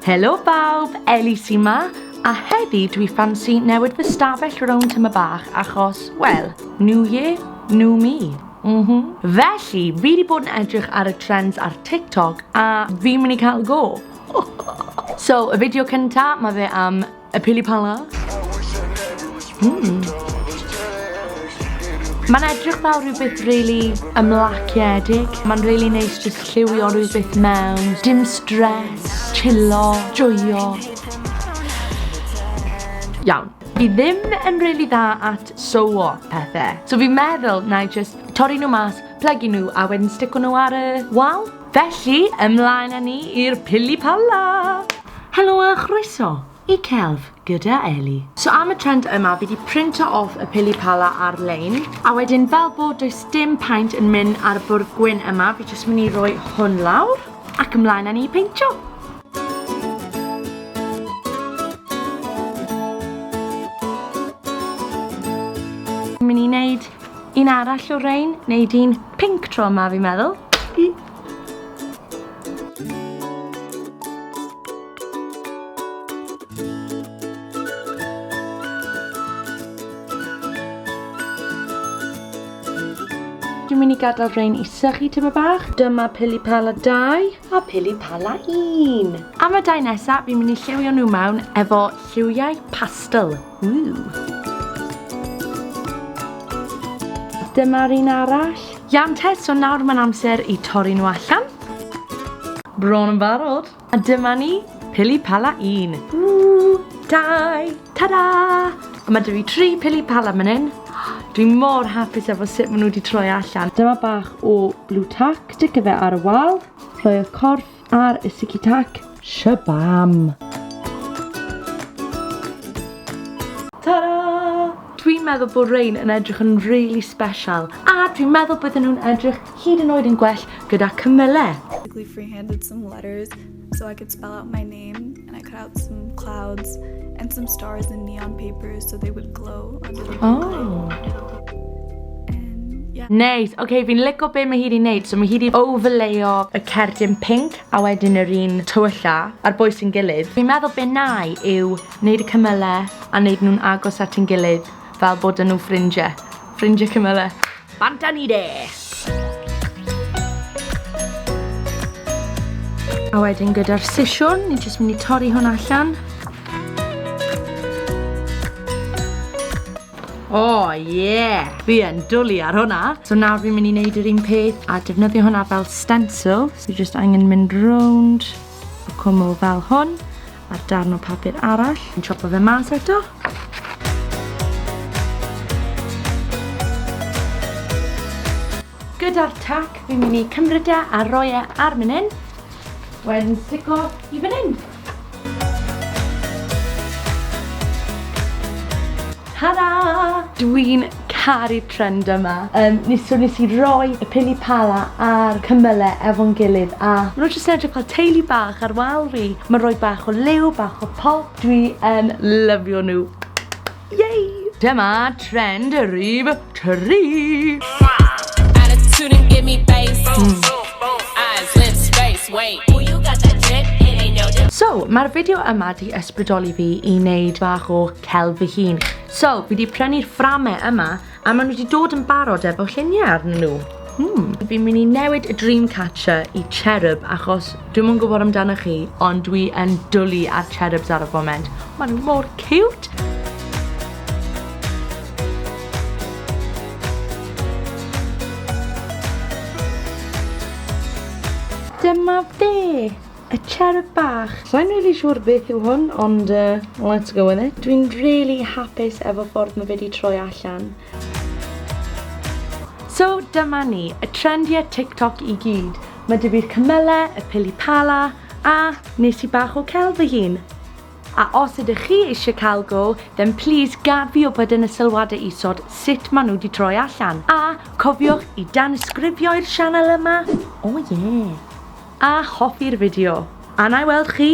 Helo bawb, Ellie sy 'ma, a heddi dwi ffansi newid fy stafell rownd tyma bach achos, wel, new year, new me. Mhm. Felly, fi 'di bod yn edrych ar y trends ar TikTok a fi'n mynd i cael go. So, y fideo cynta, ma' fe am Y pili pala. Mm. Mae'n edrych fel rhywbeth really ymlaciedig. Mae'n really neis just lliwio rhywbeth mewn. Dim stress, chillo, joio. Iawn. Fi ddim yn really dda at so what pethau. So fi'n meddwl na i just torri nhw mas, plygu nhw a wedyn stico nhw ar y wal. Felly, ymlaen â ni i'r pili pala! Helo a chroeso i Celf gyda Eli. So am y trend yma fi di printo off y pili pala ar lein. A wedyn fel bod does dim paint yn mynd ar y bwrdd gwyn yma fi jyst mynd i roi hwn lawr ac ymlaen â ni peintio. Fi'n mynd i neud un arall o rein, neud un Pinc tro yma fi'n meddwl. Dwi'n mynd i gadael rhain i sychu tyma bach. Dyma pili pala 2 a pili pala 1. Am y dau nesaf, fi'n mynd i lliwio nhw mewn efo lliwiau pastel. Dyma'r un arall. Iawn te, so nawr mae'n amser i torri nhw allan. Bron yn barod. A dyma ni, pili pala un. Ww, dau, ta-da! A mae dwi fi tri pili pala man hyn. Dwi mor hapus efo sut maen nhw wedi troi allan. Dyma bach o blue tack, sticio fe ar y wal, rhoi'r corff Ar y Siki Tac, shabam! Ta-da! Dwi'n meddwl bod rhain yn edrych yn really special a dwi'n meddwl bydden nhw'n edrych hyd yn oed yn gwell gyda cymylau. Basically free-handed some letters so I could spell out my name. And I cut out some clouds and some stars in neon paper so they would glow on the Oh. Yeah. Neis. Oce, okay, fi'n lico be mae hi wedi wneud. So mae hi wedi overlayo y cerdyn pink a wedyn yr un tywylla a'r bwys yn gilydd. Fi'n meddwl be nai yw wneud y cymylau a wneud nhw'n agos at yn gilydd fel bod yn nhw ffrindiau. Ffrindiau cymylau. Bant â ni de! A wedyn gyda'r sisiwn, ni'n jyst mynd i torri hwn allan. O, oh, ie! Yeah. Fi yn dwlu ar hwnna. So nawr fi'n mynd i wneud yr un peth a defnyddio hwnna fel stencil. So jyst angen mynd rownd y cwmwl fel hwn. A'r darn o papur arall. Yn chopo fe mas eto. Gyda'r tac, fi'n mynd i cymryd e a roi e ar mynd hyn. Wedyn stico i fan hyn. Ta-da! Dwi'n Caru'r trend yma. Yym nes- so nes i roi y pili pala a'r cymyle efo'n gilydd a ma' nw jyst yn edrych fel teulu bach ar wal fi. Ma'n roi bach o liw, bach o pop. Dwi yn lyfio nw. Yay! Dyma trend y rhif tri. So, ma'r fideo yma 'di ysbrydoli fi i neud bach o celf fy hun. So, fi 'di prynu'r fframe yma, a ma' nhw 'di dod yn barod efo lluniau arnyn nhw. Hmm. Fi'n mynd i newid y Dreamcatcher i Cherub, achos dwi'm yn gwybod amdanoch chi, ond dwi yn dwlu ar Cherubs ar y foment. Ma' nhw mor cute! Dyma fe! A cherub bach! Sa i'n rili siwr beth yw hwn, ond yy, let's go with it. Dwi'n rili hapus efo ffordd ma fe di troi allan. So dyma ni, y trendiau TikTok i gyd. Mae dy fi'r cymylau, y pili pala, a nes i bach o celf fy hun. A os ydych chi eisiau cael go, then please gad fi wybod yn y sylwadau isod sut maen nhw wedi troi allan. A cofiwch i danysgrifio i'r sianel yma, o ie! A hoffi'r fideo. A 'na i weld chi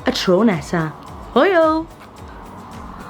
y tro nesa. Hwyl!